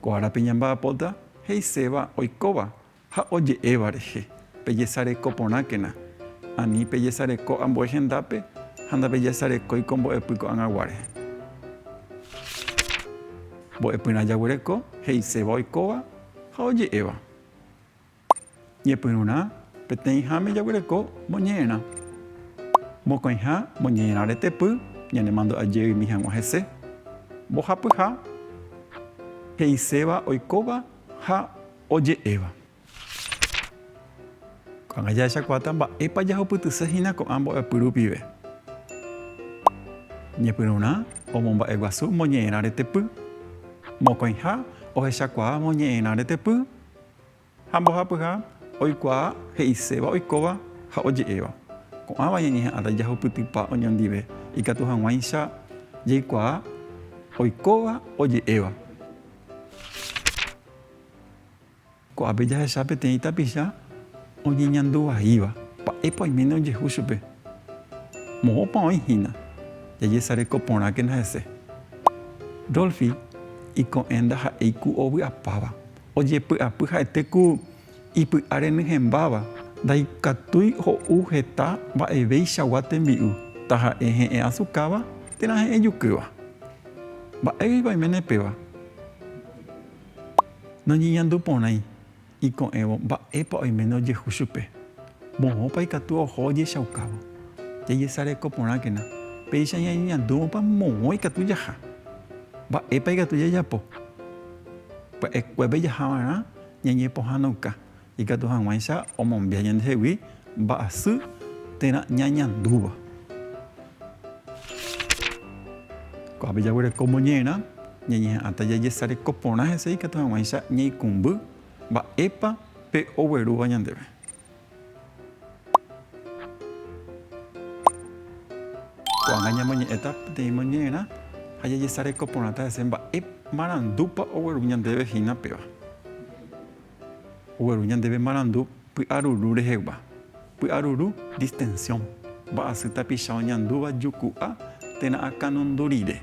Ko árape ñamba'apóta he'iséva oikóva ha oje'éva rehe, pejesareko porãkena, ani pejesareko ambue hendápe ha ndapejesarekói ko mbo'epy ko'ag̃aguáre. Mbo'epyrã jaguereko he'iséva oikóva ha oje'éva. Ñepyrũrã, peteĩháme jaguereko moñe'ẽrã. Mokõiha moñe'ẽrã retepy ñanemandu'aje ymi hag̃ua hese. Mbohapyha, he'iséva oikóva ha oje'éva. Ko'ág̃a jahechakuaáta mba'épa jahupytyse hína ko'ã mbo'epy rupive. Ñepyrũrã, omomba'eguasu moñe'ẽrã retepy. Mokõiha, ohechakuaa moñe'ẽrã retepy Ha mbohapyha oikuaa he'iséva oikóva ha oje'éva. Ko'ãva ñañeha'ãta ijahupytypa oñondive ikatu hag̃uáicha jaikuaa oikóva oje'éva. Ko'ápe jahecha peteĩ tapicha oñeñandu vaíva. Mba'épa oiméne ojehu chupe? Moõpa oĩ hína jajesareko porãkena hese? Rolfi iko'ẽnda ha'éi ku ovy'apáva. ojepy'apy ha'ete ku ipy'a renyhẽmbáva, ndaikatúi ho'u heta mba'eveichagua tembi'u, taha'e he'ẽ asukáva térã he'ẽ jukýva. Mba'égui vaiméne péva noñeñandu porãi iko'ẽvo mba'épa oiméne ojehu chupe, moõpa ikatu oho ojechaukávo. Jajesareko porãkena péicha ñañeñandúvopa moõ ikatu jaha, mba'épa ikatu jajapo. Pya'ekuépe jahava'erã ñañepohãnoka ikatu hag̃uáicha omombia ñandehegui mba'asy térã ñañandúva. Ko'ápe jaguereko moñe'ẽrã ñañeha'ãta jajesareko porã hese ikatu hag̃uáicha ñaikũmby mba'épa pe oguerúva ñandéve. Ko'ág̃a ñamoñe'ẽta peteĩ moñe'ẽrã ha jajesareko porãta hese mba'e marandúpa ogueru ñandéve hína péva. Ogueru ñandéve marandu py'aruru rehegua. Py'aruru, distensiõ, mba'asy tapicha oñandúva juku'a térã akãnundu rire.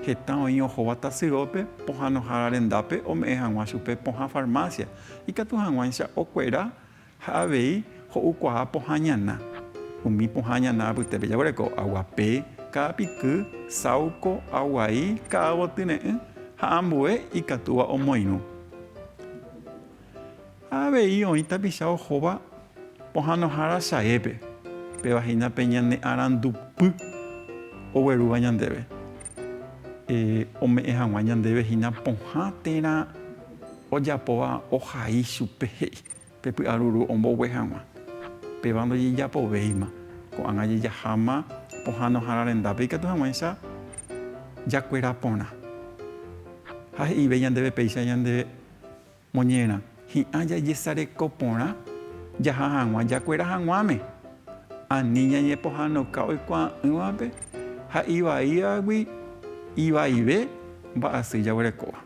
Heta oĩ ohóva tasyópe pohãnohára rendápe ome'ẽ hag̃ua chupe pohã farmásia Ikatu hag̃uáicha okuera ha avei ho'ukuaa pohã ñana. Umi pohã ñana apytépe jaguereko aguape, ka'apiky, sauko, aguai, ka'agotýre'ỹ ha ambue ikatúva omoirũ. Ha avei oĩ tapicha ohóva pohãnohára chaépe, péva hína pe ñane arandupy oguerúva ñandéve, ome'ẽ hag̃ua ñandéve hína pohã térã. Ojapóva ohai chupe he'i pe py'aruru ombogue hag̃ua. Péva ndojejapovéima. Ko'ág̃a jejaháma pohãnohára rendápe ikatu hag̃uáicha jakuera porã. Ha he'ive ñandéve péicha ñande moñerã, hi'ã jajesareko porã jaha hag̃ua jakuera hag̃uáme. Ani ñañepohãnoka oikuaa'ỹvape ha ivaívagui ivaive mba'asy jaguerekóva.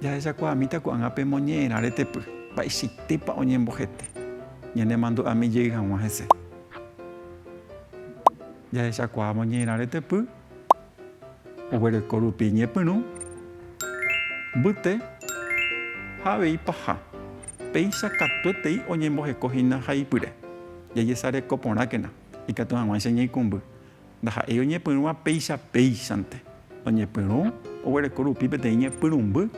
Jahechakuaamíta ko'ág̃a pe moñe'ẽrã retepy, mba'eichaitépa oñembohete ñanemandu'ami jey hag̃ua hese. Jahechakuaa moñe'ẽrã retepy oguereko rupi ñepyrũ, mbyte ha avei paha. Péicha katuetei oñemboheko hína haipyre, jajesareko porãkena ikatu hag̃uáicha ñeikũmby. ndaha'éi oñepyrũva péicha péichante, oñepyrũ oguereko rupi peteĩ ñepyrũmby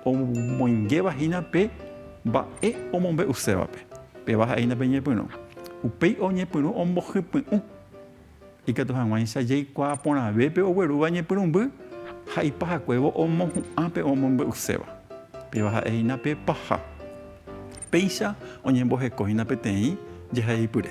omoingéva hína pe mba'e omombe'usévape, péva ha'e hína pe ñepyrũ. Upéi oñepyrũ ombohypy'ũ, ikatu hag̃uáicha jaikuaa porãve pe oguerúva ñepyrũmby ha ipahakuévo omohu'ã pe omombe'uséva, péva ha'e hína pe paha. Péicha oñemboheko hína peteĩ jehaipyre.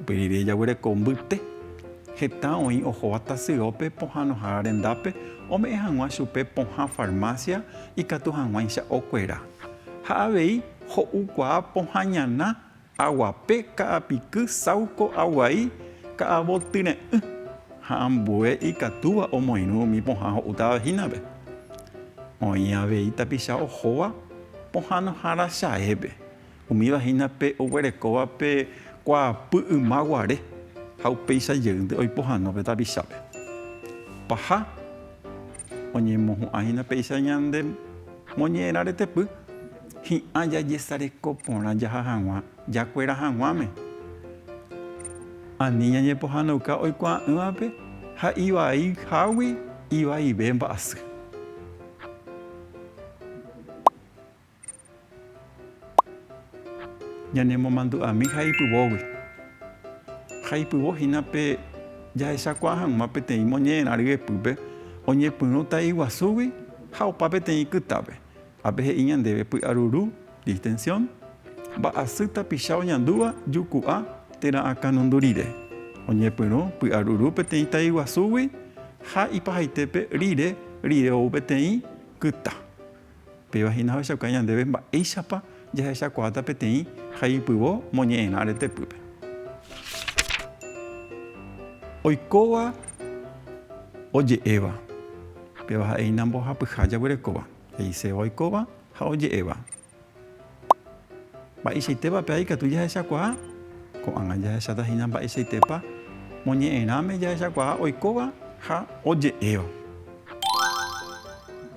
Upe rire jaguereko mbyte heta oĩ ohóva tasyópe pohãnohára rendápe ome'ẽ hag̃ua chupe pohã farmásia ikatu hag̃uáicha okuera. Ha avei ho'ukuaa pohã ñana, aguape, ka'apiky, sáuko, aguai, ka'avotyre'ỹ ha ambue ikatúva omoirũ umi pohã ho'útava hínape. Oĩ avei tapicha ohóva pohãnohára chaépe, Umíva hína pe oguerekóva pe kuaapy yma guare ha upéicha jeýnte oipo hag̃ua pe tapichápe. Paha oñemohu'ã hína péicha ñande moñe'ẽrã retepy hi'ã jajesareko porã jaha hag̃ua jakuera hag̃uáme, ani ñañepohãnouka oikuaa'ỹvape ha ivai hágui ivaive mba'asy. Ñanemomandu'ami jaipyvógui. Jaipyvo hína pe jahechakuaa hag̃ua peteĩ moñe'ẽrã ryepýpe oñepyrũ ta'i guasúgui ha opa peteĩ kytápe. Ápe he'i ñandéve py'aruru, distensión, mba'asy tapicha oñandúva juku'a térã akãnundu rire. Oñepyrũ py'aruru peteĩ ta'i guasúgui ha ipahaitépe rire rire ou peteĩ kyta. Péva hína ohechauka ñandéve mba'éichapa jahechakuaáta peteĩ haipyvo moñe'ẽrã retepýpe. Oikóva oje'éva, péva ha'e hína mbohapyha jaguerekóva, he'iséva oikóva ha oje'éva. Mba'eichaitépa pe ái katu jahechakuaa? Ko'ág̃a jahecháta hína mba'eichaitépa moñe'ẽrãme jahechakuaa oikóva ha oje'éva.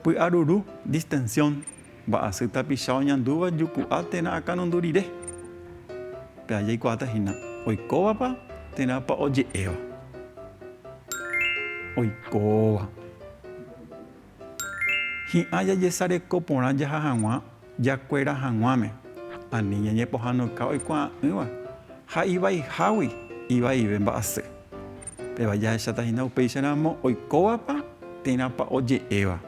Py'aruru, distensión, mba'asy tapicha oñandúva juku'a térã akanundu rire. Pe ái jaikuaáta hína oikóvapa térãpa oje'éva. Oikóva. Hi'ã jajesareko porã jaha hag̃ua jakuera hag̃uáme, ani ñañepohãnoka oikuaa'ỹva ha ivaihágui ivaive mba'asy. Péva jahecháta hína upéicharamo oikóvapa térãpa oje'éva.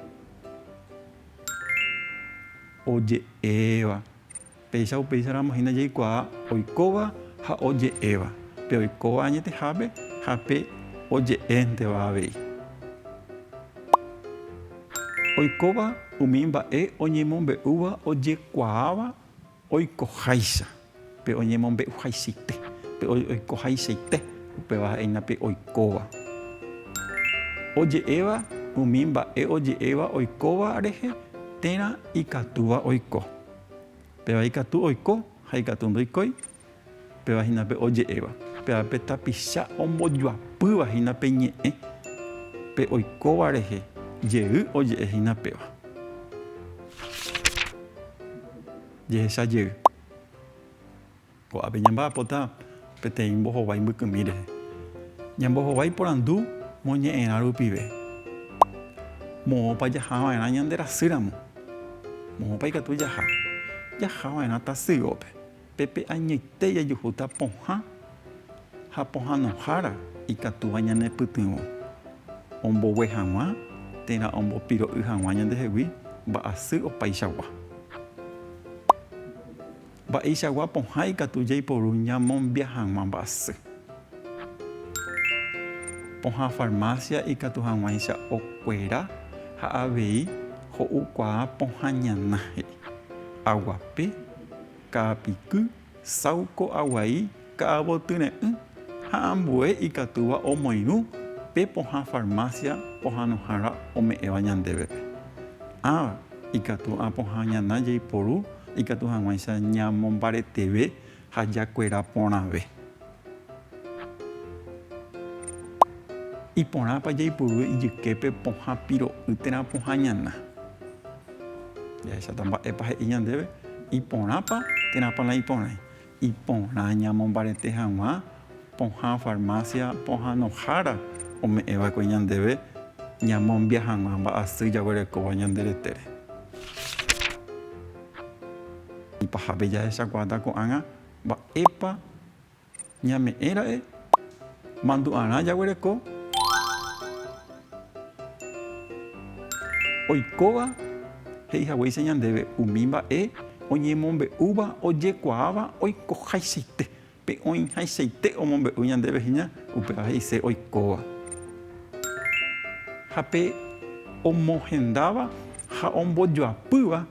Péicha upéicha ramo hína jaikuaa oikóva ha oje'éva, pe oikóva añetehápe ha pe oje'énteva avei. Oikóva umi mba'e oñemombe'úva ojekuaáva oikoháicha, pe oñemombe'uhaichaite, pe oikohaichaite, upéva ha'e hína pe oikóva. Oje'éva umi mba'e oje'éva oikóva rehe térã ikatúva oiko. Péva ikatu oiko ha ikatu ndoikói, péva hína pe oje'éva. Péva pe tapicha ombojoapýva hína pe ñe'ẽ, pe oikóva rehe jey oje'e hína péva. Jehecha jey. Ko'ápe ñamba'apóta peteĩ mbohovái mbykymi rehe. Ñambohovái porandu moñe'ẽrã rupive, Moõpa jaha va'erã ñande rasýramo? Moõpa ikatu jaha? Jaha va'erã tasyópe. Pépe añoite jajuhúta pohã ha pohãnohára ikatúva ñanepytyvõ ombogue hag̃ua térã ombopiro'y hag̃ua ñandehegui mba'asy opaichagua. Mba'eichagua pohã ikatu jaiporu ñamombia hag̃ua mba'asy. Pohã farmásia ikatu hag̃uáicha okuera ha avei ho'ukuaa pohã ñana he'i, aguape, ka'apiky, sauko aguai Ka'avo tyre'ỹ ha ambue ikatúva omoirũ pe pohã farmácia pohãnohára ome'ẽva ñandévepe. Ãva ikatu apohã ñana jaiporu ikatu hag̃uáicha ñamombareteve ha jakuera porãve. Iporãpa jaipurúe ijyképe pohã piro'y térã pohã ñana? Jahecháta mba'épa he'i ñandéve, iporãpa térãpa la iporãi. Iporã ñamombarete hag̃ua pohã farmácia pohãnohára ome'ẽ va'ekue ñandéve ñamombia hag̃ua mba'asy jaguerekóva ñande retére. Ipahápe jahechakuaáta ko'ág̃a mba'épa ñame'ẽ ra'e mandu'arã jaguereko. Oikóva he'i haguéicha ñandéve umi mba'e oñemombe'úva ojekuaáva oikohaichaite, pe oĩhaichaite omombe'u ñandéve hína, upéva he'ise oikóva. Ha pe omohendáva ha ombojoapýva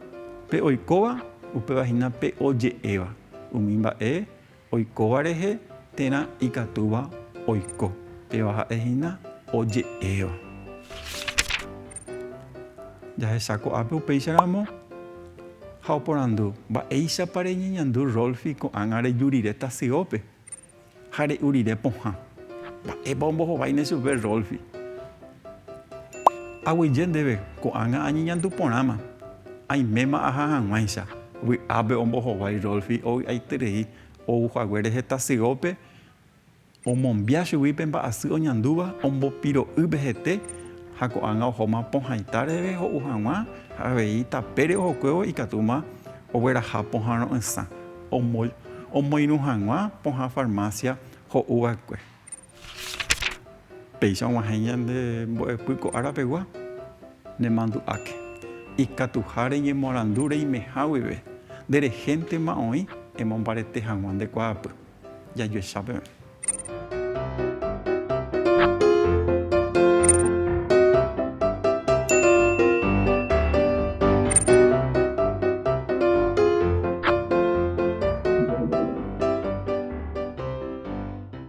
pe oikóva, upéva hína pe oje'éva umi mba'e Oikóva rehe térã ikatúva oiko, péva ha'e hína oje'éva. Jahesa ko'ápe upéicha ramo ha oporandu, Mba'éichapa reñeñandu Rolfi ko'ág̃a reju rire tasyópe ha re'u rire pohã? Mba'épa ombohováine chupe Rolfi? Aguyje ndéve ko'ág̃a añeñandu porãma, aiméma aha hag̃uáicha. Vy'ápe ombohovái Rolfi ovy'aiterei ou haguére heta syópe, omombia chugui pe mba'asy oñandúva, ombopiro'y pehete ha ko'ág̃a ohóma pohãita reve ho'u hag̃ua ha avei tapére ohokuévo ikatúma ogueraha pohã ro'ysã, omoirũ hag̃ua pohã farmásia ho'u va'ekue. Péicha og̃uahẽ ñande mbo'epy ko ára pegua, nemandu'áke. Ikatuha reñemoarandu reimeha guive, nde rehéntema oĩ emombarete hag̃ua nde kuaapy, jajuecha peẽ.